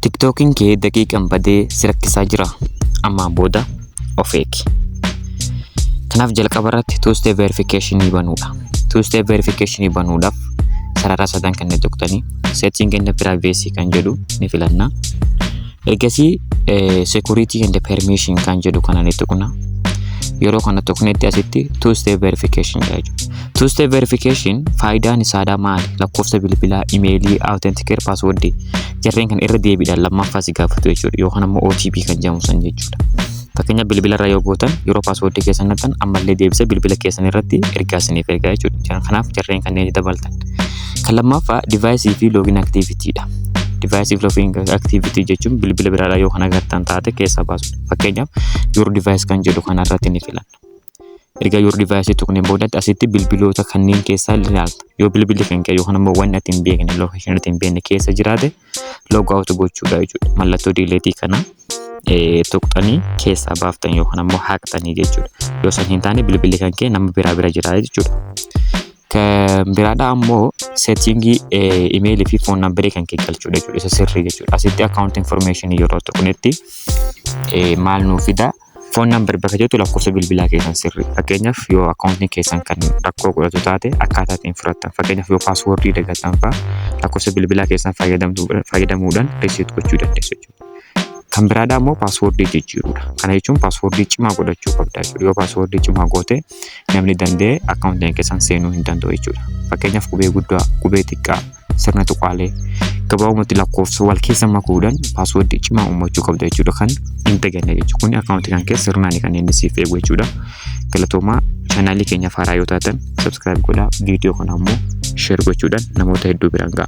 Tiktookiin kee daqiiqan badee si rakkisaa jira. Ammaa booda of eegi. Kanaaf jalqaba irratti two step verification banuudha. Two step verification banuudhaaf sarara sadan kan tuqtanii setting and privacy kan jedhu ni filanna. Ergasii security and permission kan jedhu kana ni tuqna. Yeroo kana tuqnetti asitti two step verification jedha jechuudha. Two step verification faayidaan isaadhaa maali? Lakkoofsa bilbilaa, imeelii, authenticator password jarreen kan irra deebiidhaan lammaffaa si gaafatu jechuudha. Yookaan ammoo OTP kan jedhamu san jechuudha. Fakkeenya bilbila irra yoo gootan yeroo password keessan naqxan ammallee deebisee bilbila keessan irratti ergaa isiniif ergaa jechuudha. Kanaaf jarreen kanneen dabaltan. Kan lammaffaa device fi login activity dha. Device fi login activity jechuun bilbila biraadhaa yoo kan agartan taate keessaa baasudha. Fakkeenyaaf your device kan jedhu kanarratti ni filanna. Erga your device tuqneen boodatti asitti bilbiloota kanneen keessaa ilaalta. Yoo bilbilli kan kee yookaan immoo wanni ati hin beekne location ati hin beekne keessa jiraate log out gochuudha jechuudha. Mallattoo diileetii kana eh, tuqxanii keessaa baaftan yookaan immoo haqxanii jechuudha. Yoo san hin taane bilbilli kan kee nama biraa bira jira jechuudha. Kan biraadha ammoo settingii imeelii fi foon nambaree kan kee galchuudha jechuudha. Isa sirrii jechuudha. Asitti account information yeroo tuqnetti eh, maal nuu fida? Foon number bakka jettu lakkoofsa bilbilaa keessan sirri. Fakkeenyaaf yoo akkaawuntiin keessan kan rakkoo godhatu taate akkaataa ittiin furattan. Fakkeenyaaf yoo paaswoordii dagattan fa'a lakkoofsa bilbilaa keessan fayyadamuudhaan reset gochuu dandeessu jechuudha. Kan biraadhaa immoo paaswoordii jijjiiruudha. Kana jechuun paaswoordii cimaa godhachuu qabda jechuudha. Yoo paaswoordii cimaa goote namni danda'e akkaawuntii keenya keessan seenuu hin danda'u jechuudha. Fakkeenyaaf qubee guddaa, qubee xiqqaa, sirna tuqaalee gabaabumatti lakkoofsa wal keessa makuudhaan paaswoordii cimaa uumachuu qabda jechuudha kan hin daganne jechuudha. Kun akkaawuntii kan keessa sirnaan kan inni siif eegu jechuudha. Galatoomaa chaanaalii keenya faaraa yoo taatan sabskiraayib godhaa viidiyoo kana ammoo sheer gochuudhaan namoota hedduu biraan ga'a.